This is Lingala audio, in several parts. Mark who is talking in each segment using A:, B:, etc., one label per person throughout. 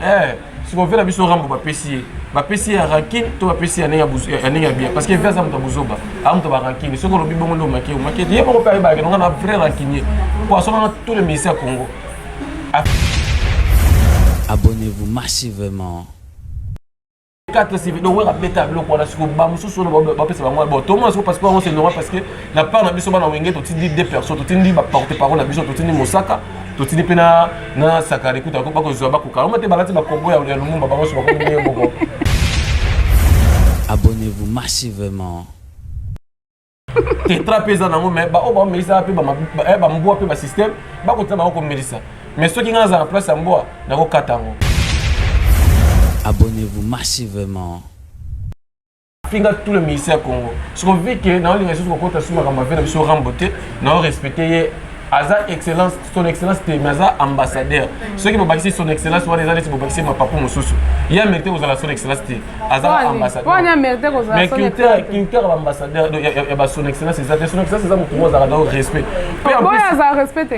A: eh siko vela biso rambo bapesi ye bapesi ye ya rankine to bapesi ye ya ndenge ya bien parce que veza moto ya buzoba a moto ya barankine soki olobi bongo nde omake omake te ye moko mpe ayebake nonga na vrai rankinier mpo asomaka tous les ministère ya congo abonnez-vous
B: massivement
A: kaka tosivi donc wera beta biloko wana siko bamosusu oyo bapesa bango bon tomona siko parce que yango c'est normal parce que na part na biso bana wenge totindi deux personnes totindi baporte parole na biso totindi mosaka totindi mpe na na sakare kuta bakozwa bakoka yango te balati bakombo ya lumumba bango nyonso bakomi ndenge moko
B: abonnez-vous massivement
A: tetra mpe eza nango mais baoyo baomelisa mpe bambwa mpe basystème bakotina bango komelisa mais soki ngai nazala na place ya mbwa nakokata yango
B: abonnez-vous massivement
A: finga tout le ministère ya congo soki ovike naolinga lisusu kokota susu makambo avie na biso rambo te nao respecte ye aza excellence son excellence te mais aza ambassadeur mm. soki bobakisi son excellence wana eza neti bobakisi mapapu mosusu ye amerite kozala son excellence te aza ambassadeurmais
C: culture
A: ya baambassadeur ya bason excellence eza te son excellence eza motu moko azalaka donc respect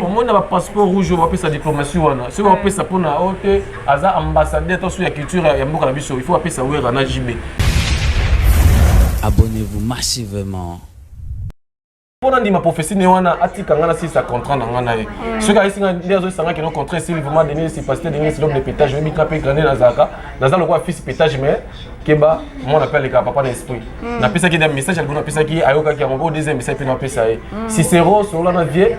C: omoni na bapasseport
A: rouge oyo bapesa diplomatie wana soki bapesa mpona o te aza ambassadeur to so ya culture ya mboka na biso il faut bapesa wera na jb
B: abonnez-vous massivement
A: mpo nandima prophesie ne wana atika ngai nasilisa contrat na ngai na ye mm. soki ayesi ngai nde azoyisanga kino contrat esili vraiment denis capacité denis l'homme de pétage oyebi ngai mpe grande nazalaka naza lokola fils pétage mais keba mwana mpe alekaka papa na esprit mm. napesaki da message ya liboso napesaki ye ayokaki yango oyo oh, deuxième message mpe napesa ye mm. cicero solola na vie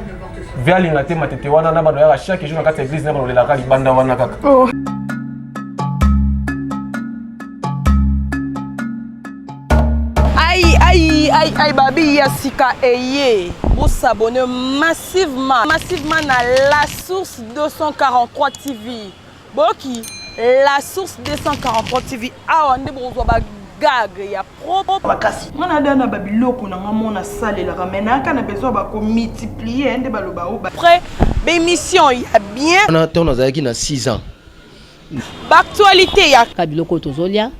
A: vie alinga te matete wana na bana oyaka chaque jour na kati ya église na bana olelaka libanda wana kaka oh.
D: Aïe, aïe, aïe, aïe, babi ya sika eye bosabone massivement massivement na la source 243 tv boki la source 243 tv awa nde bokozwa ba gag ya propre makasi nga nada na
E: babiloko na nga mona salelaka mai nayaka na besoin bakomultiplie nde baloba o après
D: bémission ya bien wana ntango nazalaki na
F: 6 ans
D: baactualité ya biloko tozolia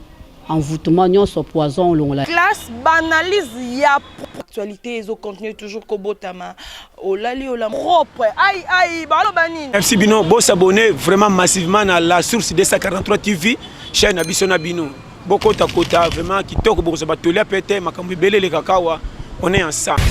G: envoûtement nyonso poison olongola classe banalyse
D: ya actualité ezo continuer toujours kobotama olali ola propre ai ai baloba nini merci bino bo s'abonner
H: vraiment massivement na la source 243 tv chaîne na biso na bino bokota kota vraiment kitoko bokozwa batoli ape te makambo ebele elekaka awa on est ensemble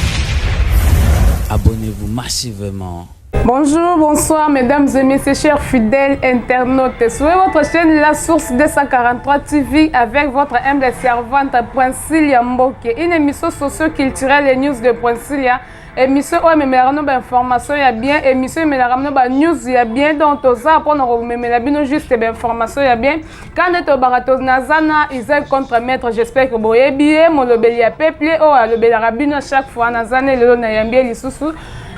H: abonnez-vous
B: massivement Bonjour,
C: bonsoir mesdames et messieurs, chers fidèles internautes. Suivez votre chaîne La Source 243 TV avec votre humble servante Princilia Mboke, une émission socio-culturelle et news de Princilia. Émission où ememelaka no ba information ya bien, émission ememelaka no ba news ya bien, donc toza mpo na komemela bino juste ba information ya bien. Kanda tobaka to naza na Isaac contre maître, j'espère que boyebi ye, molobeli ya peuple oyo alobelaka bino chaque fois naza ne lelo nayambi ye lisusu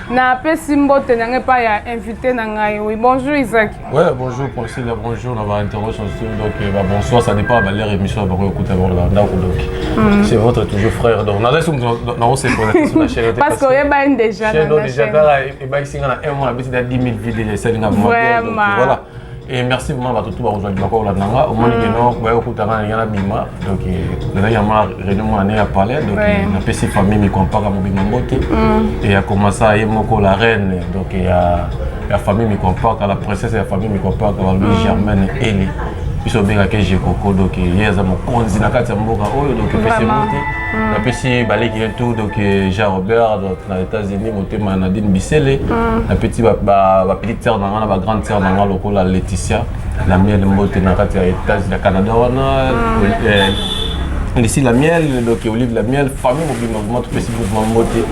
C: Na pesi mbote na ngai pa ya invité na ngai. Oui, bonjour Isaac. Ouais, bonjour
A: Priscilla, bonjour na ba intervention donc euh, ba bonsoir, ça dépend ba leur émission ba ko écouter ba la ndako donc. Mm. C'est votre toujours frère donc. Na laisse na on se pose sur la chaîne. Parce que yeba en déjà
C: na chaîne. Déjà kala
A: e ba isinga na un mois bisi da 10000 vues déjà ça linga vraiment. Voilà. Et merci vraiment à tout bakozwa libaka kolanda nga omoni ke no baye kokutana na yala bima donc ezali ya ma réunion mwana ne ya palais donc napesi famille mikompaka mobima mbote e akomasa ye moko la reine donc ya ya famille mikompaka la princesse ya famille mikompaka balobi germaine eli biso obengaki jekoko donc ye aza mokonzi na kati ya mboka oyo donc epesi mbote Mm. napesi baleki ye tout donc euh, jean robert donc na états-unis motema nadine bisele mm. napeti bapetite sere na nga na bagrande sere na nga lokola laetitia na miele mbote na kati ya états ya canada wana mm. euh, lisi la miel donc olive la miel famille mobimba vraiment topesi mouvement mbote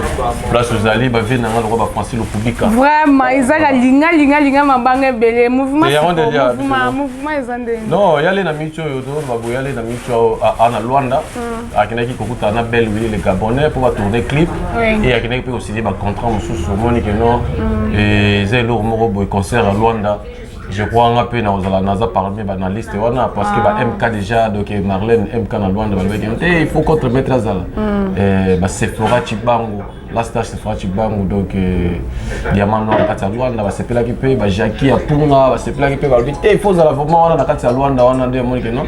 A: place ozali bavie na nga lokwa bafrancis lokubika vraiment eza na
C: linga linga linga mabanga ebele mouvement eza nde non yale
A: na micho oyo to baboyale na micho ana luanda Mm. akendaki kokutana na belle wili le gabonais mpo batourne clip e akendaki mpe kosigne bacontrat mosusu omoni ke no mm. eza eloko moko boye concert ya luanda je crois nga mpe nakozala naza parmi banalyste wana parce que ba ah. mk déjà donc marlène mk na luanda balobaki te il faut contre maître azala mm. eh, basephora cibango la star se fera chibangu donc euh, diamant noir na kati ya luanda basepelaki mpe bajaki ya mpunga basepelaki mpe balobi te ifo ozala vraiment wana na kati ya luanda wana nde amoni keno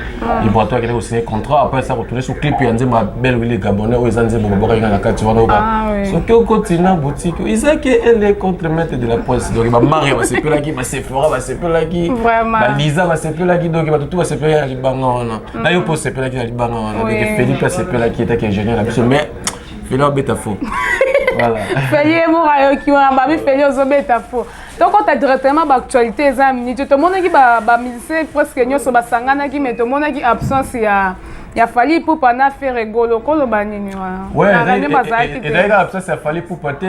A: ibrato akende kosigne contrat apres asa kotourne sur clip ya nzembo ya belle wili gabonais oyo eza nzembo babwakaki nga na kati wana oka Ah, oui. soki okoti na boutique oyo, ezaki ele contre maître de la poste donc bamaria basepelaki basefora basepelaki Vraiment. baliza basepelaki donc bato tu basepelaki na libanga wana na yo mpe osepelaki na libanga wana donc Oui, felix mpe asepelaki etaki ingénieur na biso mais feli abeta fo feli ye moko
C: ayoki wana babi feli ozobeta fo tokota directement baactualité eza ya minute tomonaki bamusicien presque nyonso basanganaki mais tomonaki absence ya ya fali pupa na fere golo koloba nini wanande bazalaki
A: te ezalaki absence ya fali pupa te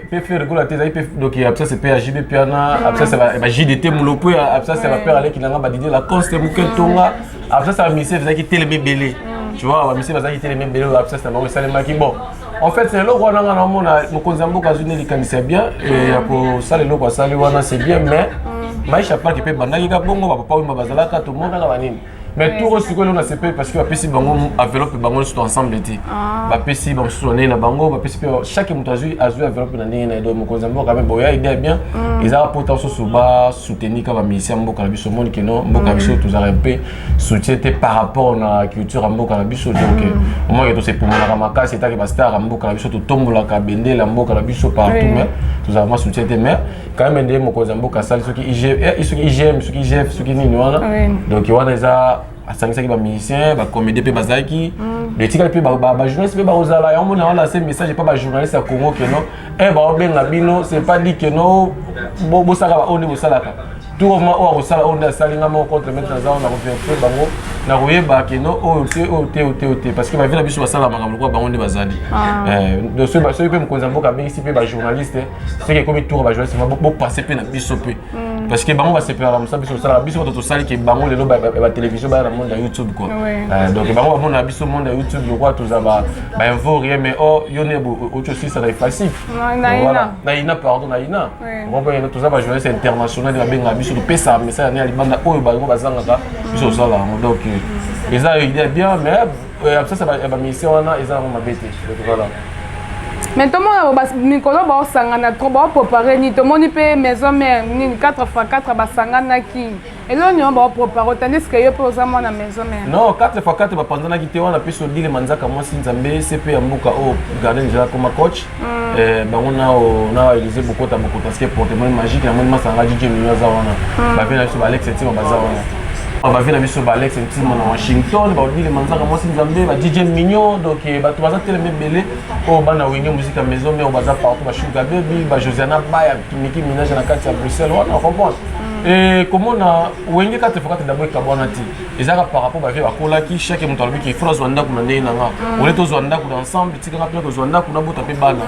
A: mpe fere golo te ezalaki mpe donc absence mpe ya jb mpe na absence ya bajdt molo mpo ya absence ya bapere aleki nanga badidie lacoste moke ntonga absence ya bamisien ezalaki telema ebele mm. tu vois bamisien bazalaki telema ebele oyo absence na bango esalemaki bon en fait c'est eloko wana nga namona mokonzi ya mboka azwi nde likanisi ya bien ya kosala eloko asali wana c'est bien mais mm. maisha park mpe ebandaki ka bongo bapapa wimba bazalaka tomonaka banini mais tour oyo sikoyo elona sepeli parce que bapesi bango enveloppe bango nyonso to ensemble te ah. bapesi bamosusu na ndenge na bango bapesi mpe chaque moto azwi azwi enveloppe na ndenge na ye donc mokonzi ya mboka mpe boya idea bien mm. ezaka mpota mosusu soutenir kaka musicien mboka na biso omoni ke no mboka na biso tozalaka mpe soutien te par rapport na culture ya mboka na biso donc omonake tosepumolaka makasi etake bastar ya mboka na biso totombolaka bendele ya mboka na biso partout mais tozalaka ma soutien te mais quand même nde mokonzi ya mboka asali soki igm soki igm soki igf soki nini wana donc wana eza asangisaki bamusicien bacomédien mpe bazalaki mm. etikali mpe bajournaliste mpe bakozala yango mona wana se message epa bajournaliste ya congo keno e eh, baobenga bino c'est pas dit keno bosaka baoyo nde bosalaka tour of ma oyo akosala oyo nde asali nga moko contre maître naza oyo nakoverifie bango nakoyeba keno oyo te oyo te oyo te oyo te parce que bavi na biso basala makambo lokola bango nde bazali ah. eh, soki mpe mokonzi ya mboka abengisi mpe bajournaliste soki ekomi tour bajournaliste bopasse mpe na biso mpe Mm. parce que bango basepelaka mosala biso tosalaka biso bato tosali ke bango lelo batelevizio baya na monde ya youtube quoi euh, donc bango bamona biso monde ya youtube lokola toza bainfo rien mais o oh, yo ne oki osilisa na efasi naina pardon naina okompene toza bajournaliste international babengaka biso topesaka message ne ya libanda oyo bango bazangaka biso tosalaka yango donc euh, eza idea bien mais Euh, absence ya bamisien wana eza yango mabe te voilà mais
C: tomona mikolo baosangana trop baopropare nini tomoni mpe maison mare nini 4 fois 4 basanganaki eloko nio baopropare otandis ke yo mpe oza mwana maison mare non 4 fois 4
A: bapanzanaki te wana mpe sodile manzaka mwasi nzambe cp ya mboka oyo oh, garden jela koma coach Mm. Eh, bango nao na elise bokota bokota ske porte moni magique na moni masanga jije mino aza wana mm. bavi na biso baalex etima baza wana ah, bavi na biso baalex etima na washington baodile manzaka mwasi nzambe ba jije mignon donc eh, bato baza telema ebele oyo oh, bana wenge muziki ya maison mare baza partout bashuga bebi bajosiana baya miki minage na kati ya bruxelles wana comprendre mm. eh, komona wenge kati fokati dabo ekabwana te ezalaka par rapport bavie bakolaki chaque moto alobi ke fona zwa ndako na ndenge na nga mm. ole tozwa ndako na ensemble etikanga mpe tozwa ndako nabota mpe bana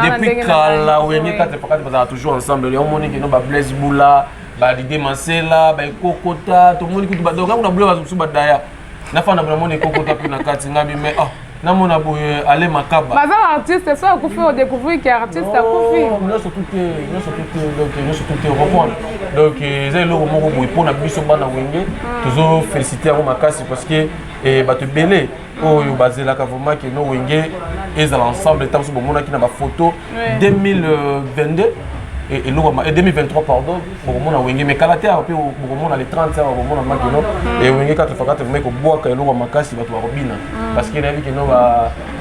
A: depuis kala oyenge kate pakati bazalaka toujours ensemble yango omoni keno bablaise bula balide masela baekokota tomoni kutu badongango na bula bazo mosusu badaya nafanda bonamoni ekokota mpe na kati ngabi mai ah namona boye ale makaba baza ba artiste so
C: akufi o découvrir que artiste akufi nyonso tout te
A: nyonso tout te donc nyonso tout te comprendre donc eza eloko moko boye mpo na biso bana wenge hmm. tozo féliciter yango makasi parce que eh, bato ebele oyo bazelaka vraiment que no wenge ezala ensemble ntango so bomonaki na bafoto 2022 eloko 2023 pardon bokomona wenge mais kala te awa mpe bokomona le 30 awa bokomona makeno mm. e wenge 4 fois 4 vraimen kobwaka eloko makasi bato bakobina mm. parce que nayebi keno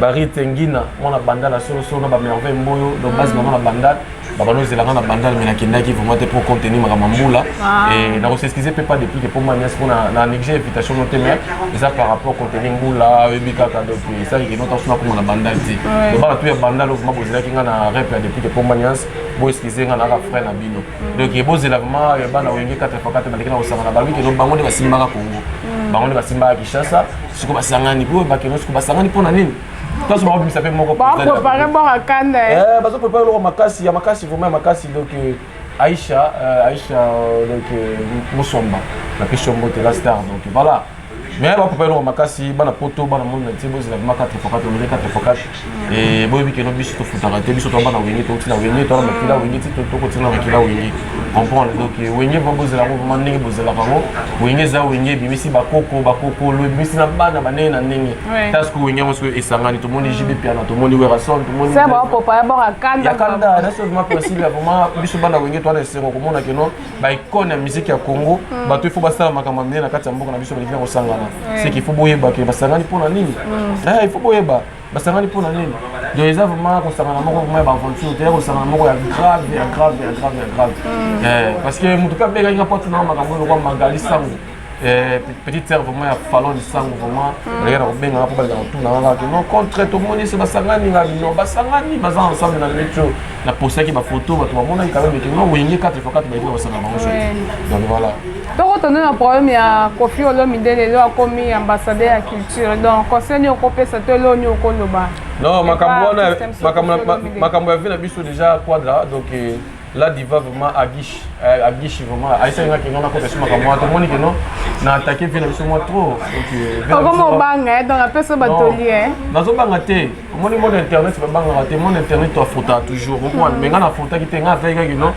A: barite ngina mwana bandal ya solosolo na bamerveille mboyo donc mm. basi bango na bandal babanda ozelanga na bandal mais nakendaki vraiment te mpo contenu makambo mbula ah. e nakoseskize mpe pas depuis ke mpo manias mpo na néglige invitation no te mais eza par rapport contenu mbula oyebi kaka donc esaki keno taso nakoma na bandal te donc bana to ya bandal ovuma bozelaki nga na rep ya depuis ke mpo manias bo excuse nga naka frère na bino mm. donc ye bozela vraiment ya bana wenge 84 bandeki na kosangana balobi keno bango nde basimbaka congo mm. bango nde basimbaka kinshasa siko basangani po bakeno siko basangani mpo na nini toso bakobimisa mpe moko baprepare boka
C: kanda eh. Eh, bazoprepare loko
A: makasi ya makasi vraiment ya makasi donc euh, aisha euh, aisha euh, donc mosomba napesi yo mbote la star donc voilà mais ba papa eloko makasi bana poto bana monde entier bozela bima 4 fois 4 omele 4 fois 4 et boyebi keno biso tofutaka te biso toa bana wenge touti na wenge toa na makila wenge ti tokotia na makila wenge comprendre donc euh, wenge vraimen bozela yango vraimen ndenge bozelaka yango wenge eza wenge ebimisi bakoko bakokolo ebimisi na bana bandenge na ndenge taske wenge yango soki esangani tomoni mm. jb piana tomoni werason tomoniakanda
C: naso vraimen
A: principe ya vraimen biso bana wenge toa na esengo komona keno ba icône ya musique ya Congo mm. bato il faut basala makambo minene na kati ya mboka na biso balingi kosangana c'est qu'il faut boyeba ke basangani mpo na nini mm. eh, il faut boyeba basangani mpo na nini donc eza vraiment kosangana moko vraiment ya baaventure te ya kosangana moko ya grave ya grave ya grave ya grave mm. eh, parce que moto mpe abengaki nga mpo atunanga makambo oyo lokwa magali sango Eh, petite sœur vraiment ya falon lisango vraiment oleka na kobengaka mpo baleka kotuna kaka te non contre tomoni se basangani nga bino basangani baza ensemble na metro na postaki bafoto bato bamonaki kaka meke no wenge 4 fois 4 bayeki na basanga bango so donc voilà tokotonde na
C: problème ya kofi olomide lelo akomi ambassadeur ya culture donc conseil nini okopesa to elo nini okoloba non makambo
A: wana makambo ya vie na biso déjà quadra donc eh, La diva vraiment agish euh, agish vraiment aisa nga kinga na ko pesa maka mwa to moni kino na attaquer vile biso mwa trop donc euh, vile biso mwa
C: banga eh, donc après so batoli eh nazo banga te
A: moni mon internet ba banga te mon internet to afuta toujours au moins mais nga na futa ki te nga attaquer nga kino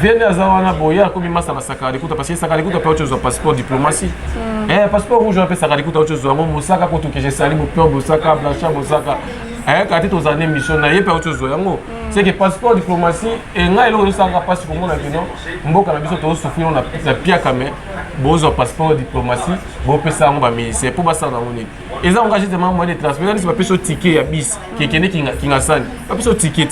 A: vile aza wana boya ko bima sa masaka likuta parce que saka likuta pe ocho zo passeport diplomatie hmm. eh passeport rouge pe saka likuta ocho zo ngo mosaka ko to ke je sali mo peur bosaka blanchard bosaka eh kati tozali mission na ye pe ocho zo yango c'est que passeport diplomatie et ngai eloko ezosanga mpasi komona kino mboka na biso tozosufrino na piaka me bozwa passeport diplomatie bopesa yango baministère mpo basala yango nini eza ngo juste mama moyen de transport eza nisi bapesi yo ticket ya bis kekende kingasani bapesi yo ticket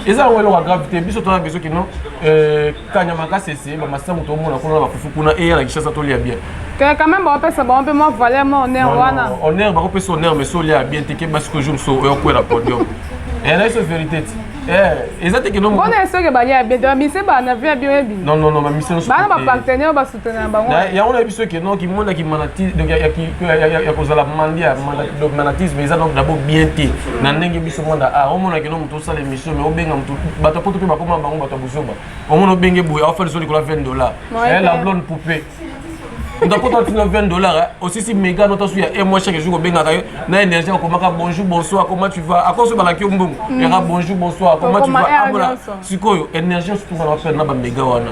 A: eza yango eloko ya grave te biso toza biso kino euh, kanyama kasese bamasangu tomona kuna na bafufu kuna eya na kishasa tolia bien ke quand même
C: bapesa bango mpe mwa valeur mwa honneur wana honneur bakopesa honneur
A: mais solia bien te keba siko jour so oyokwela podium ena iso verité ti eza te kenombona esoke balia bien
C: te bamise bana via bioyebi non non non bamise
A: bana bapartenaire
C: yango nayebi biso
A: ke donc kimona kimanati donc ya kozala mandia donc manatisme eza donc dabo bien te na ndenge biso mwana a ah, omona kino moto osala émission mais obenga moto bato poto mpe bakoma bango bato ya bozoba omona obenge boye aofa lisolo likolo ya 20 dollar eh, la blonde poupée ndakota tina 20 dollar osisi mega nota su ya un mois chaque jour kobengaka yo na énergie akomaka bonjour bonsoir comment tu vas akoso balaki yo mbongo yaka bonjour bonsoir comment tu vas amona sikoyo énergie osutukana bapele na bamega wana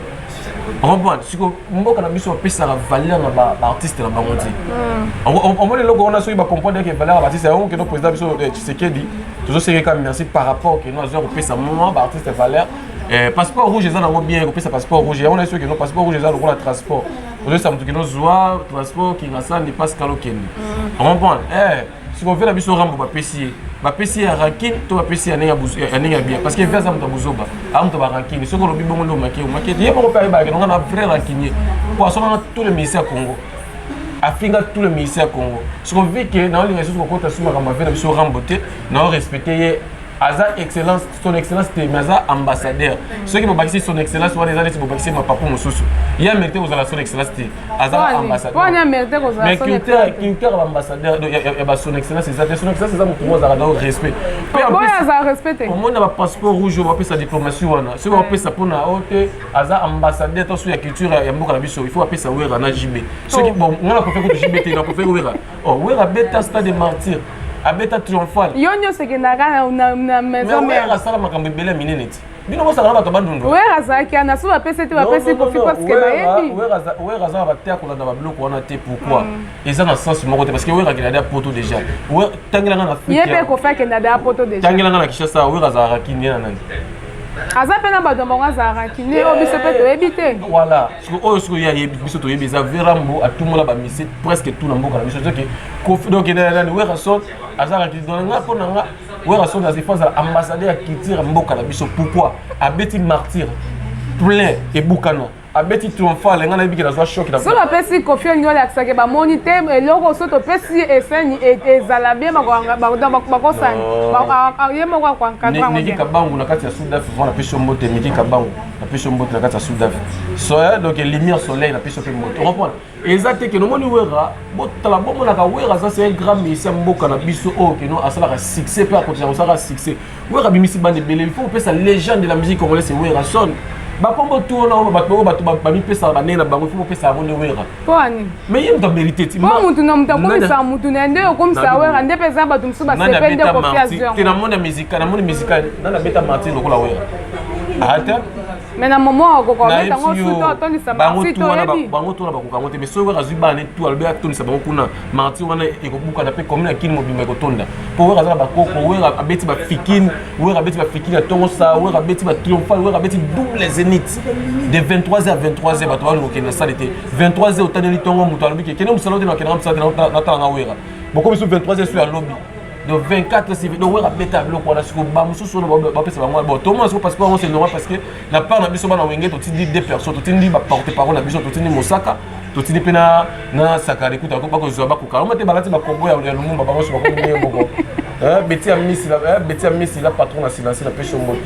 A: comprendre siko mboka na biso bapesaka valeur na baartiste na bango ti hmm. omoni eloko wana soki bacomprendre ke valeur ya baartiste yango keno président biso eh, tshisekedi tozosekeka merci par rapport keno azoya kopesa mwa baartiste valeur eh, passeport rouge eza nango bien kopesa passeport rouge yango nayeso keno passeport rouge eza lokola transport ozoyesa moto keno zwa transport kingasani pascal okende hmm. comprendre eh, sikoyo via na biso rambo bapesi ye bapesi ye ya rankine to bapesi ye ya ndenge ya bien parce que via aza moto ya bozoba aza moto ba rankine soki olobi bongo nde omake omake ye moko mpe ayebaka nonga na vrai rankinier mpo asonaka tous les ministère ya congo afinga tous les ministère ya congo sikoyo vike naolinga lisusu kokota su makambo avia na biso rambo te nao respecte ye aza excellence son excellence te mais aza ambassadeur mm. soki bobakisi son excellence wana eza neti bobakisi mapapu mosusu ye amerite kozala son excellence te aza ambassadeurmais
C: culture
A: ya baambassadeur ya bason excellence eza te son excellence eza motu moko azalaka donc respect
C: omoni na bapasseport
A: rouge oyo bapesa diplomatie wana soki bapesa mpona o te aza ambassadeur to so ya culture ya mboka na biso il faut bapesa wera na jb soki oh. bon nga na profere kutu jb te na profere wera Oh, Werra abeta stade de martyr. Abeta triomphal. Yo nyoso ekendaka
C: na na na maison mère. Werra asala makambo ebele ya
A: minene ti. Bino bosala bato bandundu. Werra azalaki ana so
C: bapesi te bapesi kofi parce que bayebi. Werra azala bate
A: akolanda babiloko wana te pourquoi? Mm. Eza na sens moko te parce que Werra akenda da poto déjà. Tangela nga na Afrique. Ye pe kofi akenda da
C: poto déjà. Tangela nga na Kinshasa Werra
A: azalaka kinye na nani? aza
C: mpe na bato ya bango azalaka kine oyo biso mpe toyebi te voilà siko oyo
A: siko ye ayebi biso toyebi eza verambo atumola bamise presque tout na mboka na biso soki kofi donc nani werrason azalaki donc nga mpo na nga werrason azefa azala ambassadeur ya culture ya mboka na biso pourquoi abeti martyre plein ebukana abeti triomphale ngai nayebi ke nazwa shoki so bapesi kofi onyo
C: alakisake bamoni te eloko so topesi eseni e, ezala bie bakosani ye moko akoankadrangiki kabangu na kati ya
A: sud afrique wana pesi yo mbote miki kabangu na peso mbote na kati ya sudaf soya donc lumière soleil na peso mpe mbote comprendre eza te keno omoni wera botala bomonaka wera aza se grand mesi ya mboka na biso oyo oh, keno asalaka succès mpe akotisa kosalaka succès wera abimisi bande ebele il faut kopesa légende de la musique congolaise wera son bakombo tu wana oyo bato oyo bato bamipesaka banei na bango il faut kopesa yango nde wera mpoa nini mais ye
C: moto amerite
A: ti mpo motu na moto akomisa
C: motu na ye nde okomisa wera nde mpe eza bato mosusu basepe nde kofiazte namoni musika
A: namoni musika nani abeta martin lokola wera ata ah, me na momo
C: akoka obeta yango suto atondisa marti toyebi bango tona bakoka yango te
A: mais soki wera azwi bana ne tu alobi atondisa bango kuna marti wana ekobukana mpe komina kini mobimba ekotonda mpo wera aza na bakoko wera abeti bafikini Werra abeti ba fiki na tongo sa, Werra abeti ba triomphal, Werra abeti double zenith. De 23h à 23h bato ba lokende na salle te. 23h otaneli tongo moto alobi ke kende musala te na kende musala te na tala na Werra. Bokomi su 23h su ya lobi. de 24 civil donc wera beta biloko wana siko bamosusu oyo bapesa bango bon tomona siko parce que yango c'est normal parce que na part na biso bana wenge totindi deux personnes totindi baporte parole na biso totindi mosaka totindi mpe na sakari kuta bakozwa bakoka oma te balati bakombo ya lumumba bango nyonso bakomi ndenge moko beti ya misi beti ya misi la patron na silence na pesho mbote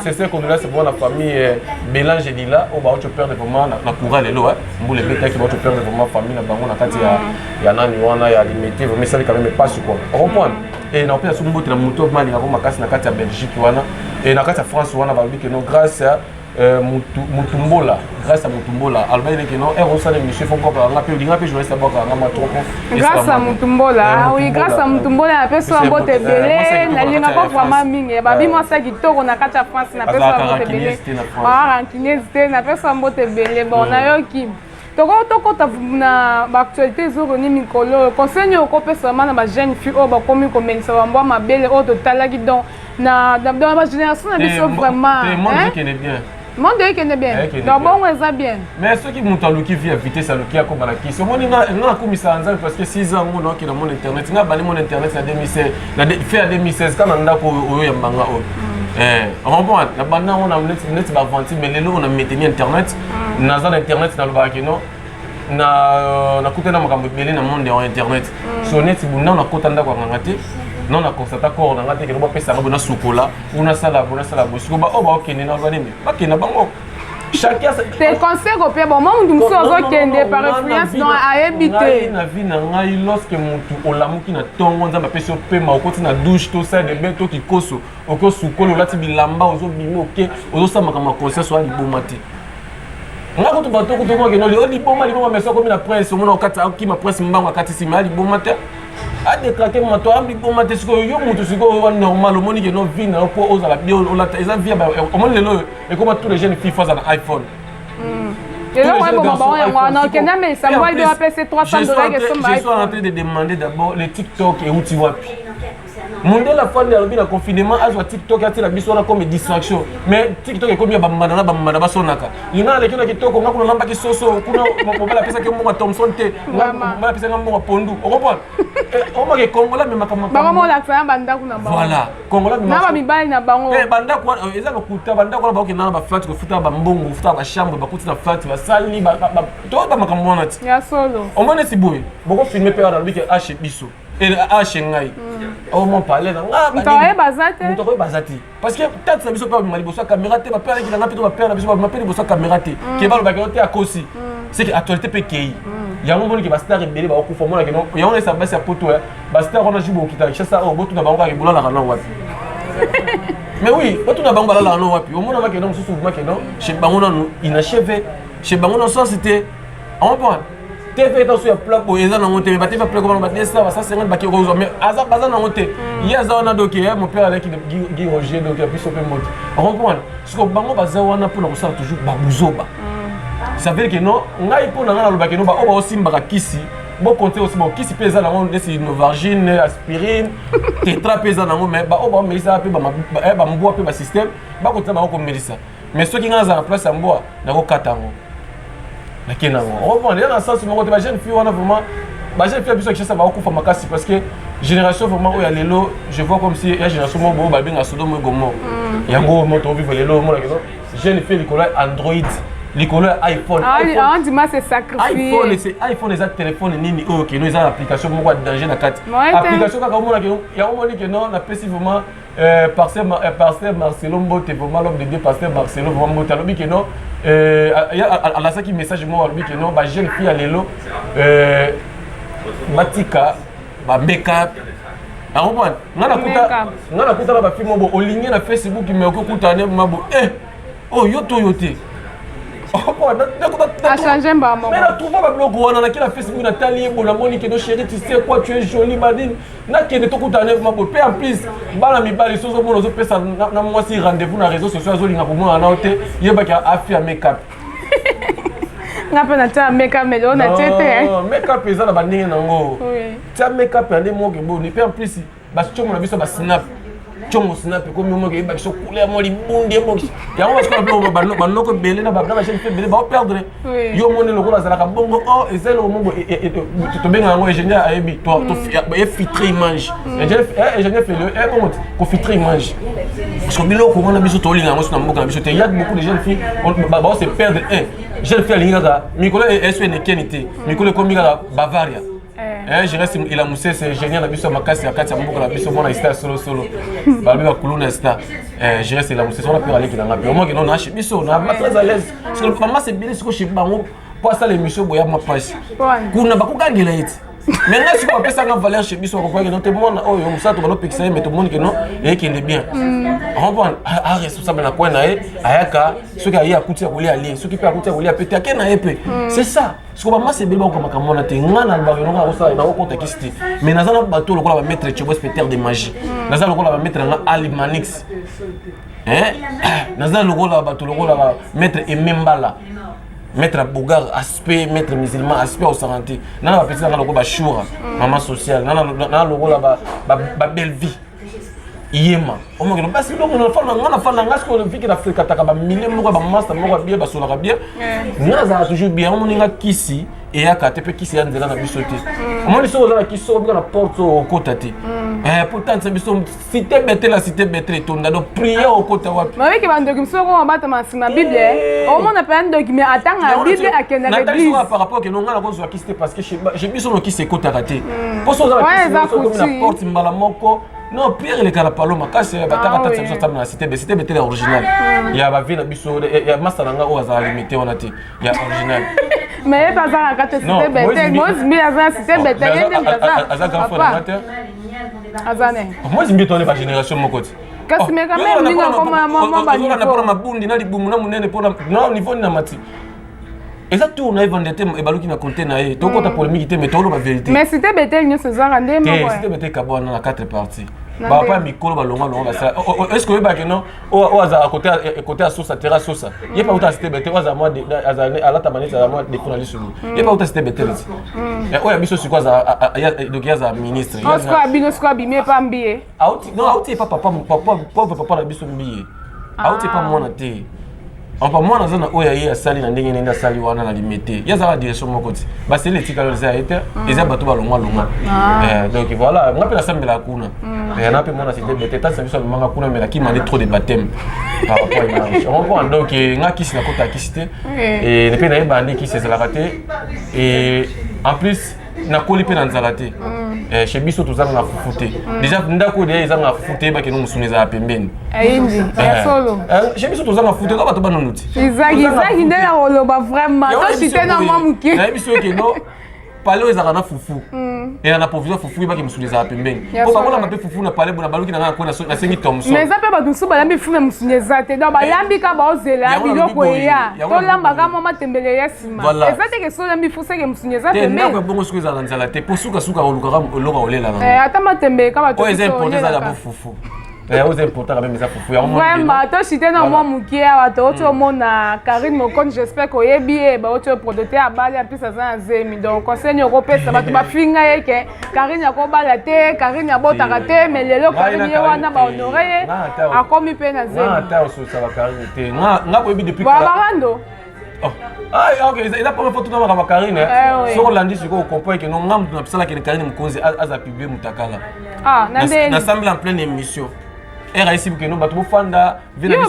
A: sese condoléance mpo na famille eh, belange lila oyo bauti perdre vraiment na courant lelo eh. mbula ebetaki bauti perdre vraiment famille na bango na kati mm. ya nani wana ya limete vraiment esali quand même epasi quoi comprendre e na kopesa soki mbote na moto malingako makasi na kati ya belgique wana e na kati ya france wana balobi ke no grâce Euh, mutumbola grâce à mutumbola alobaki leke no ero osala émission fo bwaka yanga mpe olinga mpe journaliste abwaka yanga mwa trop grâce à
C: mutumbola eh, ah oui grâce à mutumbola na pesi wa mbote ebele eh, nalinga ko vraiment mingi eh, babi mwasa kitoko na kati ya france na pesi wa mbote ebele rankiniese te na pesi wa mbote ebele bon nayoki toko tokota na baactualité ezoroni mikolo oyo conseil nini okopesama na bajeune fille oyo bakomi komelisa bambwa mabele oyo totalaki donc na bagénération na biso eh, vraiment eh,
A: monde ekende bien
C: eh, donc bongo eza bien mais soki moto aluki
A: vie ya vitesse aluki akoma na kisi omoni nga nakumisaka nzambe parce que 6 ans ngo naokenda mon internet nga abandi mon internet na 2016 na fin ya 2016 kaka na ndako oyo ya mbanga oyo mm. eh, rembond na banda ngo neti baventure mais lelo oyo na mainteni internet naza na internet nalobaka ke non euh, nakutani na makambo ebele na monde ya internet mm. so neti bunda nakota ndako ya nganga te non na constata corps na ngai te kende bapesa yango bona sukola po nasala bo nasala bo siko baoyo oh, baokende na ba nini bakenda bango te conseil
C: kopia boma motu mosusu azokende par influence don ayebi te na vie na ngai
A: lorsque motu olamuki na ntongo nzambe apesi opema okoti na douche to sale de bain to kikoso oke osukoli olati bilamba ozobima oke ozosala makambo ya conscience oya liboma te nga kutu bato kutu okokenoli o liboma liboma meso akomi na prince omona okati akima prince mbango akati nsima ya liboma te adekrake moto ayebi boma te sikoyo yo moto sikoyo wa normal omoni ke no vi na yo mpo ozala bie olata eza vi omoni lelo oyo ekoma tous les jeunes fille fo aza na iphone
C: hmm. Je suis en train
A: de
C: demander
A: d'abord les TikTok et où tu vois. mondele afandi alobi na confinement azwa tiktok atila biso wana comme distraction mais tiktok ekomi ya bambanda na bambanda basonaka linga naleki na kitoko nga kuna nambaki soso kuna mobali apesaki mbongo thomson te mobali apesaki nga mbongo pondu okomprendre eh, omake kongola amemaka
C: voilà kongola
A: mibali na bango eh,
C: bandako wana eh, eza
A: lokuta bandako wana bakokenda na baflatre kofuta bambongo kofuta bachambre bakuti na flatre basali to bamakambo wana ti omoni esi
C: boye
A: bokofilme mpe wana alobi ke ashe biso elh ngai omo pale na ngamoto
C: oyo baza te
A: parce que tante na biso mpe babima liboso ya caméra te bapere aleki na ngai mpe to bapere na biso babima mpe liboso ya caméra te ke balobaka yango te akosi seke actualité mpe ekei yango omoni ke bastar ebele bakokufa omonake no yango naesa basi ya poto ya bastar wana ju bokita kinshasa oyo botuna bango kaka ebolalaka na wapi mais oui botuna bango balalaka na wapi omonama keno mosusu vuma keno chez bango nanu inacheve chez bango na sens te omprendre TV etosu ya plaque boye eza nango te ba TV plaque wana ba 200 ba 150 ba kiko zo mais aza baza nango te hmm. ye aza wana donc eh mon père alaki Guy Roger donc biso pe mbote comprendre siko bango baza wana pona kosala toujours ba buzoba hmm. ça veut dire que non ngai pona ngai nalobaki no ba oyo baosimbaka kisi bokonte aussi bon kisi mpe eza nango neti novargine aspirine tetra mpe eza nango mais baoyo baomelisa mpe bambwa mpe basystème bakotisa bango komelisa mais soki ngai nazala place ya mbwa nakokata yango nake na yango okomprendre ya na sens moko te bajeune fille wana vraiment bajeune fille ya biso ya kinshasa bakokufa makasi parce que génération vraiment oyo ya lelo je vois comme si ya génération moko boyo babenga sodomo egomo mm. yango moto ovive lelo omona kino jeune fille likolo ya android likolo ya iphone
C: ah, ah, iphone eza telefone
A: nini oyo keno eza na application moko ya danger na kati application kaka omona yango omoni keno napesi vraiment Euh, pasteur, euh, pasteur Marcelo Mbote, vraiment l'homme de Dieu, pasteur Marcelo, vraiment Mbote, alobi que non, euh, alasaki message moko alobi que non, ba jeune fille ya lelo, euh, batika, ba make up, akomprendre nga nakuta nga nakutana bafilme obo olingi na facebook me okoki kutana mabo eh oyo yo to yo te
C: natrouva babiloko
A: wana nake na facebook natali ye bo namoni keno chéri tu sais quoi tu es jolie madine nakende tokutana neve mako mpe en plus bana mibali soki ozomona ozopesa na mwasi rendez-vous na réseau sociaux azolinga komonana nao te yebaki afi ya makeup
C: nga mpe natya makeup mais lelo natye te makeup eza na
A: bandenge na yango tya makeup ya nde moke boni mpe en plus bacomo na biso basnap congo snap ekomi omoki eyeba biso couleur mo libundi ebokisi yango basikoyo banoko ebele na bachef ebele baoperdre yo omoni lokola azalaka bongo o oh, eza eloko moko e, e, e, tobenga yango ingénieur ayebi mm. efitre image mm. ingénieur fele ebongo eh, kofitre image parce que biloko wana biso tolinga yango so na mboka na biso te ya beaucoup de jeunes filles baose perdre un jeune fille alingi kaka mikolo esu enekeni te mikolo ekomi kaka bavaria Eh, je reste ila musese ingénieur na biso ya makasi ya kati ya mboka na biso mwana star solo solo balobi ba kuluna star eh, je reste ila musese wana mpe aleki na ngai mpe omoki no na chez biso na ba très à l'aise parce que mama c'est bien siko chez bango mpo asala émission boya ma pasi kuna bakogangela ye te mais ngai sikoyo apesa nga valeur chez biso akokoyaki no te mwana oyo mosala to balopekisa ye me tomoni keno eyekende bien comprendre a responsable na coin na ye ayaka soki aye akuti ya kolia alie soki mpe akuti ya kolia mpe te ake na ye mpe c'est ça sikoyo bamasi ebele bakoka makambo wana te ngai na lobaka eloko nakosala nakokota kisi te mais naza na bato lokola bamaitre chebo spectaire de magie hmm. naza lokola bamaitre yanga alimanix eh? naza lokola bato lokola maître emembala maître abogar aspect maître musulman aspect osarante nana bapesi nanga lokola bashura hmm. mama sociale nana lokola babellevie yema omokelo basi biloko na fana nga na fana nga sikoyo olympique na frekataka bamile moko ya bamasta moko ya bie basolaka bie nga nazalaka toujours bien omoni nga kisi eyaka te mpe kisi ya nzela na biso te mm. omoni soki oza na kisi soko bika na porte oyo okota te mm. eh, mpo tanisa biso site betela site betela etonda donc priere okota wapi babiki bandoki mosusu oko
C: mabatama nsima bible eh. omona mpe ya ndoki me atanga bible akendaka eglise par rapport ke nonga nakozwa
A: kisi te parce que chez biso lokisi ekotaka te mposo oza bakomi na porte mbala moko non pierre eleka na paloma kasi bataka tata biso atambela na sitebe sitebe te ya original ya bavie na biso ya masta na nga oyo azala limite wana te ya original mais ye bazalaka
C: te sitebe te mozimbi aza sitebe te ye nde aza grand frère na nga te aza ne mozimbi toone
A: ba génération moko te kasi meka meme
C: ndinga koma mwa banipona mabundi na
A: libumu na monene mpona na niveau nina mati eza tour na ye vanda te ebaluki na compte na ye tokota mm. polémique te mais toloba vérité mais site betel nyonso
C: ezwaka nde moko site betel kabwana
A: na quatre parties bapa ya mikolo balongwa longo basala oh, oh, oh, est ce que oyebaki non oyo azala kote ya sosa terra sosa mm. ye mpe auta site betel oyo alata maneti azala mwa defo na lisolo mm. ye mpe auta site betel ti oyo ya biso sikoyo donc ye azala ministre bino sikoyo
C: abimi epambi ye auti non auti epa
A: papa papa pauvre papa na biso mbiye ah. auti epa mwana te apa mwana aza na oyo ya ye asali na ndenge nende asali wana na limete ye azalaka direction moko ti baseli etikala eza ya ye te mm. eza bato balongwa longwa ah. eh, donc voilà nga mpe nasambelaka kuna mm. eh, na mpe mwana site bete tasi na biso alumanga kuna mela kimande trop de baptême par rapport image okomprendre donc eh, nga kisi nakota kisi te mpe nayebaa nde kisi ezalaka te en plus nakoli mpe na nzala te mm. eh, chez biso tozanga fufu te mm. déjà ndako deya ezanga fufu te bakende mosuni ezala pembeni eh, eh,
C: chez biso tozanga fufu
A: te ka bato banunu ti ezaki nde
C: na koloba vraiment tosite na mwa moke nayebi soki keno
A: pale oyo ezalaka na fufu mm. ela na provision fufu ebaki mosuni ezala pembeni po bakolamba mpe fufu na pale bona baluki na ngai nakwe nasengi tomson mais eza mpe bato mosusu balambi
C: fufu na mosuni eza te donc balambi ka baozela biloko eya tolambaka mwa matembele Voilà. eza teke soki oyambi fuseke mosuni eza te ndako ya bongo soki ezala nzala te
A: mpo sukasuka olukaka eloko olela nango Eh, ata matembe kaka
C: bato oyo eza biso importe eza oyelaka. yabo fufu
A: Eh, oza importaka meme eza fufu yango omoni vraiment bino. toshite na
C: mwa moke awa touti omona karine mokoni j'espère que oyebi ye bauti oyo prodote abali amplis aza na zemi donc conseil nini okopesa bato bafinga ye ke karine akobala te karine abotaka te mais lelo Ngai na karine ye Karine wana te. bahonore ye Ngai ata- akomi mpe na Nga zemi ata ososaka karine
A: te Nga- nga koyebi depuis kala- babarando
C: Oh. Ah,
A: ah, ok, eza première fois totamaka ba Karine. Eh? Ah, Soki olandi sikoyo okomprendre que non nga moto nabisalaki ni Karine Mokonzi aza publie mutakala. Ah, na ndenge. Nasambeli en pleine émission. era esibi keno bato bofanda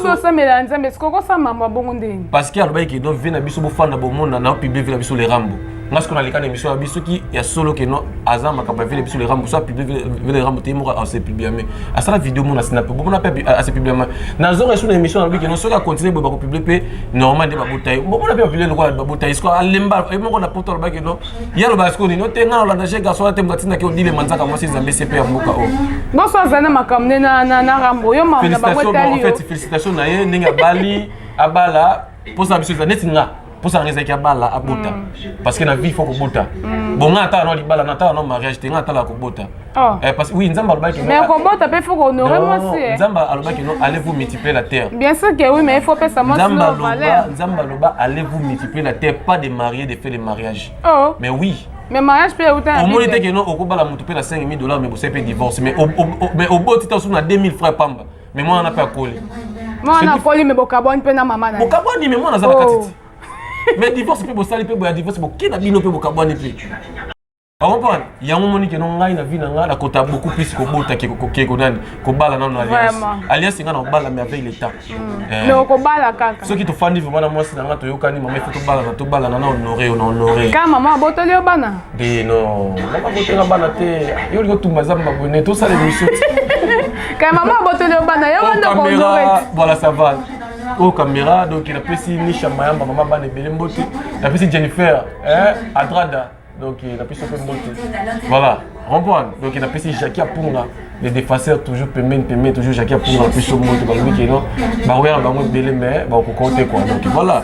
A: bosambela
C: nzambe sikoyo kosamba mambo abongo ndenge parce que alobaki keno vie
A: na biso bofanda bomona na publie vie na biso le rambo nga sikoyo naleka na émission ya biso soki ya solo ke no aza makambo ya vile biso le rambo so apublie vile rambo te ye moko ase publiame asala video mona sinape bomona mpe ase publiama nazonga esu na émission nalobi ke no soki acontinue boye bakopublie mpe normal nde babota ye bomona mpe bapublie lokola babota ye sikoyo alemba ye moko na poto aloba ke no ye alobaka sikoyo nini ote nga nalanda je garçon te moto atindaki odile manzaka mwasi zambe se mpe ya mboka oyo bonso aza na
C: makambo
A: nde
C: na rambo yo makambo
A: na
C: bango etali yo
A: félicitation
C: na ye
A: ndenge
C: abali abala
A: mposa na biso eza neti nga mposa nanga ezalaki abala abota mm. parce que na vie faut kobota mm. bon nga atala no libala na atala no mariage te nga atala kobota oh. eh, parce oui nzambe alobaki mais kobota mpe faut
C: kohonore mwasi eh. nzambe alobaki no allez
A: vous multiplier la terre bien sûr que oui mais il faut
C: pesa mwasi no valeur nzambe
A: aloba allez vous multiplier la terre pas de marier de faire le mariage oh. mais oui mais mariage mpe euta
C: omoni te keno
A: okobala motu mpe na 5000 dollars mais bosali mpe divorce mais oboti ta osuku na 2000 francs pamba me mwana na mpe akoli mwana akoli
C: me bokabwani mpe na mama na bokabwani me mwana aza na kati
A: oh. te me divorce mpe bosali mpe boya divorce boke na bino mpe bokabwani mpe okomprendre yango omoni keno ngai na vie na ngai nakota beaucoup plus kobota ke konani kobala nano alliance alliance ngai nakobala mais avec l'état mm. eh. okobala
C: kaka soki tofandi vraimen na mwasi
A: na ngai toyokani mama ifo tobalana tobalana na honore yo na honore ka mama abotoli
C: yo bana te no
A: mama kotela bana te yo olingi otumba zamba boye ne tosala emission kaya
C: mama abotoli yo bana yango ndako voilà ça va
A: oyo oh, camera donc napesi nisha mayamba mama bana ebele mbote napesi jennifer eh, adrada donc napesi yo mpe mbote voilà comprendre donc napesi jacki apunga les défenseurs toujours pembeni pembeni toujours jacqui apunga biso moto balobi keno bakoya na bango ebele mais bakokoko te kua donc voilà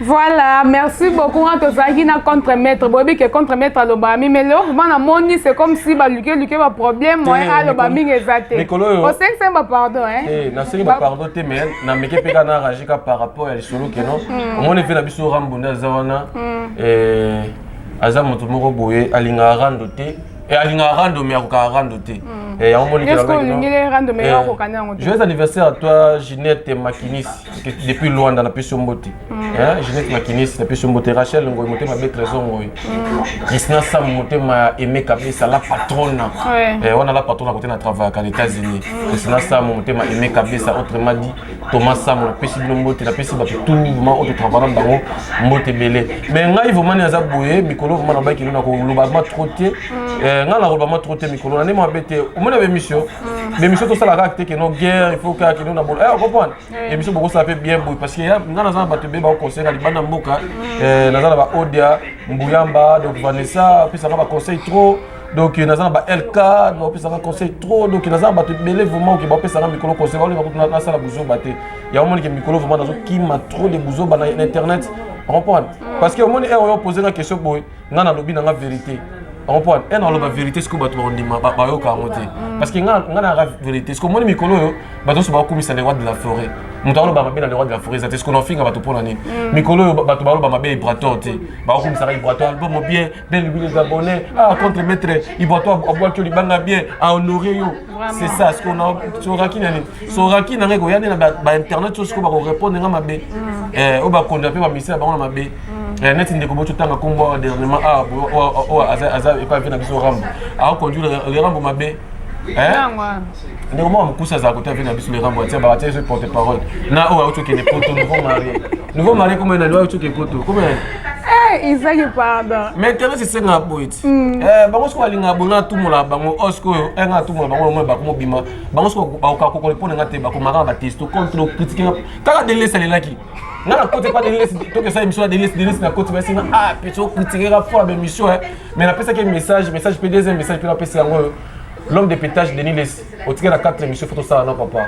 A: Voilà,
C: merci beaucoup. On te zagi na contre maître. Bobi que contre maître alobami mais l'or bana moni c'est comme si ba luke luke ba problème moi eh, alobami ngezate. Mikolo. O seng seng ba pardon hein. Eh, na seng ba
A: pardon te mais na meke peka na rajika par rapport à lisolo que non. Hmm. Moni fait na biso rambo na zawana. Hmm. Eh aza moto moko boye alingaka rando te Eh, alingaka rando mais akokaka rando te hmm. eh, yango monijoyeux eh, anniversaire à toi ginette makinis depuis luanda napesi yo mbote hmm. ginette makinis napesi yo mbote rachel ngoyi motema be trésor ngoyi hmm. kristina sam motema ya aime kabesa la patrona wana la patrona kote na travaillaka na états-unis kristina sam motema aime kabesa autrement dit Thomas Sango napesi bino mbote napesi bato tout vraiment oyo totravana na bango mbote ebele mais ngai vraiment nde naza boye mikolo vraiment nabaki kino nakoloba ma trop te mm. eh, ngai nakoloba ma trop te mikolo na nde mabe te omona bemission mm. bemission tosala kaka te keno guerre il faut kaka keno na bolo eh, comprendre emission bokosala mpe bien boye parce que ngai naza na bato ebele bakoconseil na libanda mboka mm. eh, naza na baodia mbuyamba donc vanessa apesaka baconseil trop donc naza na ba lk bapesaka conseil trop donc naza na bato ebele vraiment oke bapesaka mikolo conseil baolinga kutu nasala buzoba te yango omonike mikolo vraiment nazokima trop de buzoba na internet comprendre mm. parce que omoni heure oyo opose nga question boye nga nalobi na nga vérité comprendre e naloba vérité sikoyo bato bakondima bayoka yango te mm. parce que nga nayaka vérité sikoyo omoni mikolo oyo bato nyonso bakokumisa le roi de la forêt moto aloba mabe na le roi de la forêt eza te sikoyo nafinga bato mpo na nini mm. mikolo oyo bato baloba mabe ya ibrator te bakokumisaka ibrator album bien belle louis les abonnés ah contre maître iboto abwaki libanga bien a honoré yo c'est ça ce qu'on a soraki na nini soraki na ngai koya nde na ba internet so sikoyo bakorépondre nga mabe mm. eh, oyo bakonda mpe bamisala bango na mabe mm. eh, neti ndeko boto tanga nkombo awa dernièrement ah, oyo aza epai mpe na biso rambo akoconduire le rambo mabe ndeko moko mokuse azala kote ape na biso le rambo atia batia ezo porte parole na oyo autokende poto nouveau marie nouveau mari kombo nani oyo coke poto kombo nani eh, izaki
C: pardon mais kebe sisengaka
A: boye ti mm. eh, bango soki balingaka boye nga atumolaka bango o oh, sikoyo eh, nga atumolaka bango yango bakomobima bango soki bakoka kokole mpo na nga te bakomaka batesto contre okritike nga kaka delesi alelaki nga nakoti epa delesi tokesa émission ya delesi delesi nakoti basi nga ah peti okritike nga fo ya bémission mais napesaki message message mpe deuxième message mpe napesi yango l'homme de pétage denis lesi otike na 4 émission fo tosala na papa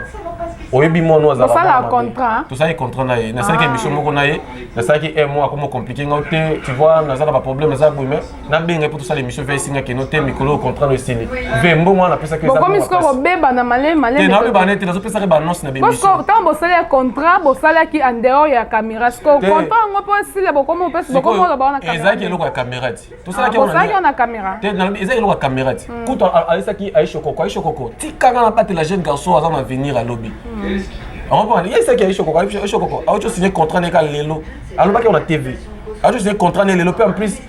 A: oyebi mono azalakotosali
C: contrat na ye
A: nasalaki ah. émission moko na ye nasalaki un mois akoma compliqué ngao te tu vois naza na baproblème eza boye mais nabengai mpo tosala émission ve esinga keno te mikolo oyo contrat no esili ve mbongo wana napesaki ezabebana
C: malemabebana te
A: nazopesaki baannonce na bntango bosali ya
C: contrat bosalaki en dehors ya caméra siko contrat yango mpo esila bokomi opesi bokomi oloba wana ezalaki eloko ya caméra ti
A: tosalaki yango Bosalaki yango na kamera
C: te nalobi eza eloko ya kamera
A: ti kutu ayesaki aisho koko aisho koko tika nga nabatela jeune garçon aza na avenir alobi aompani yesaki aisho koko aisho koko auti osigne contrat neka lelo alobaki yango na tv auti osigne contrat ne lelo mpe en plus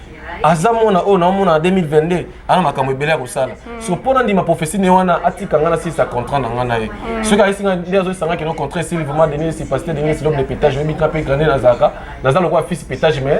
A: aza mwana oyo naomona na 2022 ana makambo ebele ya kosala so mpo nandima prophesie ne wana atika nga nasilisa contrat na nga na ye soki ayesi nga nde azoyesanga kino contrat esili vraiment denis esipasite denis esilobe de petage oyebi nga mpe grande nazalaka naza lokola fils petage mais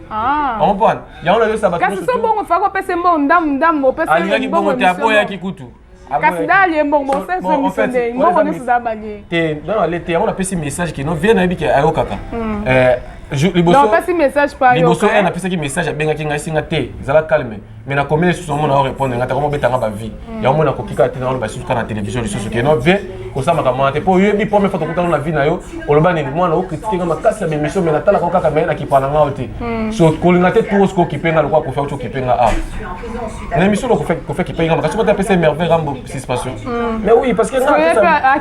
A: Ah. Ompona. Yango na yosa bato. Kasi so bongo fako pese
C: mbo ndam ndam o pese. Alingaki bongo te apo yaki
A: kutu. Kasi dali
C: ye mbongo se se misende mbongo ne suda banye. Te dans la lete yango
A: na pese message que no vie na yebiki ayo kaka. Hmm. Euh
C: liboso. Non pese message pa yo. Liboso elle na pese ki message
A: abengaki ngai singa te. Zala calme. mais na combien lisusu omona o répondre nga takoma obeta nga bavie mm. yango mona koki kaka te na oloba lisusu kaka na télévision lisusu ke no vie osamaka mwana te mpo oyebi première fois tokutana na vie na yo oloba nini mwana okritike nga makasi ya bémission mais natalaka o kaka maye nakipa na ngao te mm. so kolinga te turo soki okipe nga lokola kofi auti okipe nga a na émission loko kofi akipe nga makasi kota apesa merveille rambo suspension mm. mais oui parce que nga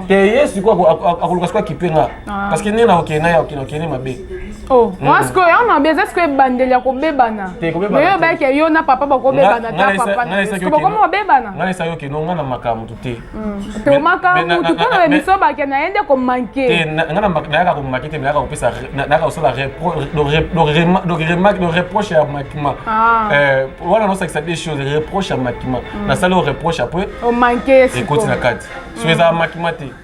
C: te ye sikoyo
A: akoluka sikoyo akipe nga Ah. parce que ndenge nakokende na ya okende okende mabe oh, mm. wana
C: sikoyo yango mabe eza sikoyo ebandeli ya kobebana oyo obaki ya yo na papa bakobebana ta papa bakoma babebana ngai esaki okende onga na
A: maka mutu te mm. tomaka
C: mutu mpo na biso bake na ye nde komanke ngai nayaka
A: komake te nayaka kopesa nayaka kosala donc reproche ya makima ah. eh, wana nosakisa des choses reproche ya makima mm. nasali oyo reproche apres
C: ekoti na kati
A: soki ezala makima te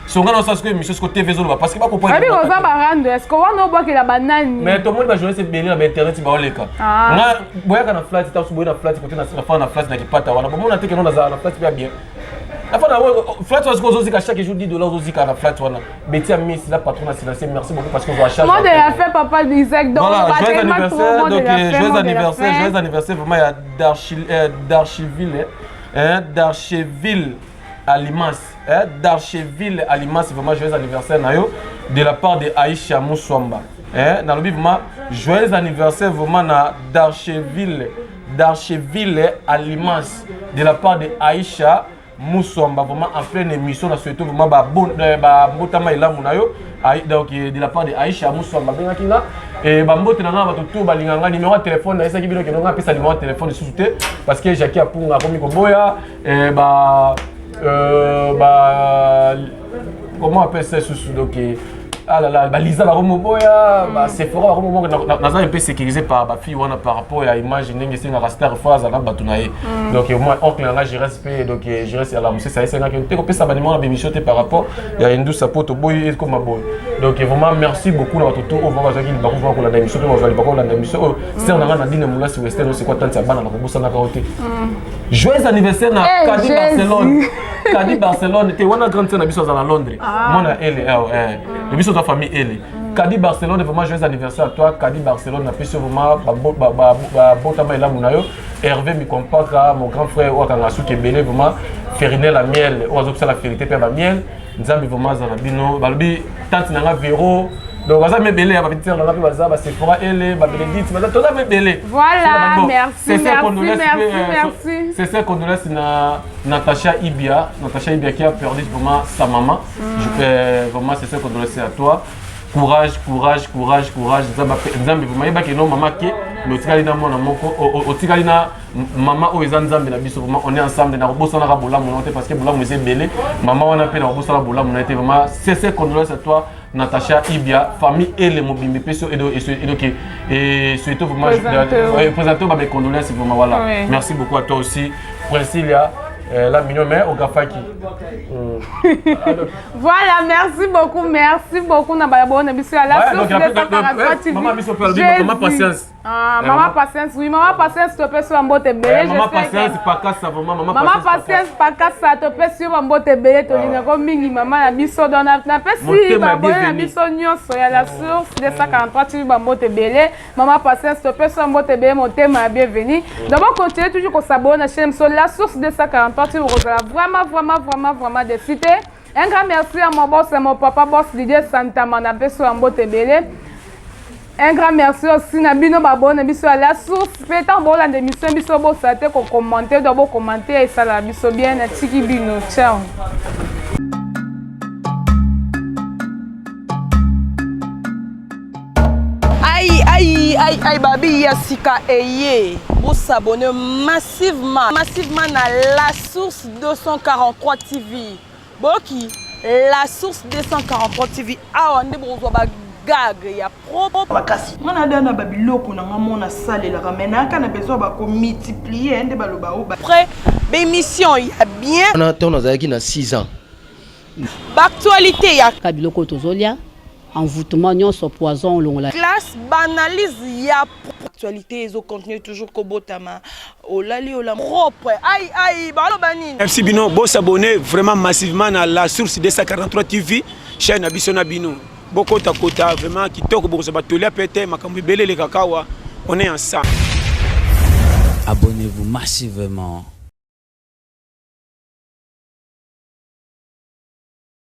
A: songa na sasiko émission siko tv ezoloba parce que ba comprendre abi oza ba rando est-ce
C: que wana obwakela ba nani mais to moni ba journaliste
A: ebele na ba internet ba oleka ah. nga boyaka na flat tasu boyaka na flat côté na fa na flat na kipata wana bomona te que non na flat bien bien afa na flat wana soki ozozika chaque jour 10 dollars ozozika na flat wana beti ya miss la patron na silencieux merci beaucoup parce que ozwa charge mode ya fait papa
C: Isaac donc voilà joyeux anniversaire
A: donc euh, joyeux anniversaire joyeux anniversaire vraiment ya d'archiville euh, hein d'archiville à Limas eh, d'Archeville Alimas vraiment joyeux anniversaire na yo de la part de Aïcha Muswamba eh, nalobi vraiment joyeux anniversaire vraiment na d'Archeville d'Archeville Alimas de la part de Aïcha Muswamba vraiment en pleine émission na souhaite vraiment ba bon eh, ba mbotama elamu na yo donc eh, de la part de Aïcha Muswamba bengaki nga et ba mbote na nga bato tout balinga nga numéro ya téléphone na esaki bino ke nga pesa numéro ya téléphone lisusu te parce que Jackie Apunga akomi koboya eh, ba euh, ba comment appelle ça sous donc ah là là balisa bakomoboya basephora bakomoboya naza mpe sécurisé par bafille wana par rapport ya image ndenge esengaka star fois azalaka bato na ye mm. donc moi oncle na ngai gérance mpe donc gérance ya la mosesa esengaki te kopesa banimo na bémission te par rapport ya indusa mpo toboyi ekoma boye donc vraiment merci beaucoup na bato to oyo vraiment bazalaki libaku vraimen kolanda émission mpe bazwa libaku kolanda émission oyo star na ngai na dine molasi western osekwa tante ya bana na kobosanaka yo te mm. Joyeux anniversaire na hey, eh, Kadi Barcelone. Kadi Barcelone te wana grande sœur na biso azala Londres. Ah. Mwana Ele eh, oh, eh. Ah. Biso za famille Ele. Kadi Barcelone vraiment joyeux anniversaire à toi. Kadi Barcelone na biso vraiment ba ba ba, ba bota mai lamu na yo. Hervé mi compaka mon grand frère oyo akanga suki ebele vraiment Ferinel la miel oyo azokisa la ferite pe ba miel. Nzambe vraiment azala bino balobi tante na nga vero donc baza mpe ebele ya bapetite na nga mpe baza basephora ele babenedite baza toza mpe ebele sese condolence na natacha ibia natacha ibia qui a perdu vraiment sa maman mm. euh, vraiment sese condolence à toi courage courage courage courage nzambe vraiment yebaki no mama ke mais otikali na mwana moko otikali na mama oyo eza nzambe na biso vraiment on est ensemble na kobosanaka bolamu na yo te parce que bolamu eza ebele mama wana mpe na kobosana bolamu na ye te vraiment sese condolence à toi Natacha Ibia, famille et les Mobimbe Pesso et donc et surtout vraiment présentez mes condoléances vraiment voilà. Oui. Merci beaucoup à toi aussi. Princilia euh, la mignon mais au Gafaki.
C: Mm. voilà, merci beaucoup, merci beaucoup na baya bon na biso la source de ta Maman biso perdre, maman
A: patience. Ah, eh, mama patience
C: oui mama patience topesi yo bambote ebele eh, mama patience pakasa
A: vraiment mama mama patience
C: pakasa topesi yo bambote ebele tolingako ah. mingi mama na biso donc napesi babone na biso nyonso ya la ah. source 243 tili bambote ebele mama patience topesi yo bambote ebele motema ya bienvenu mm. donc bocontinue toujours kosabone na chaine biso la source 243 tili bokozala vraiment vraiment vraiment vraiment desite Un grand merci à mon boss, à mon papa boss Didier Santama, na peso ya mbote ebele. Un grand merci aussi na bino babone biso ya la source mpe ntango bolanda émission biso bosala te kokommente to bokommente esalaka biso bien natiki bino ciao
D: ai ai ai ai babi ya sika eye bosabone mas Massivement, massivement na la source 243 TV. Boki la source 243 TV awa nde bokozwa ba gag ya propre makasi nga nada na
E: babiloko na nga mona salelaka mai nayaka na besoin bakomultiplier nde baloba o après
D: bémission ya bien wana ntango nazalaki na
F: 6 ans
D: baactualité ya biloko oyo tozolya
G: envoûtement nyonso poison olongola classe banalyse
D: ya actualité ezo continuer toujours kobotama olali ola propre ai ai baloba nini merci bino bo s'abonner
H: vraiment massivement na la source 243 tv chaîne na biso na bino bokota kota vraiment kitoko bokozwa batoli ape te makambo ebele elekaka awa on est ensemble abonnez-vous massivement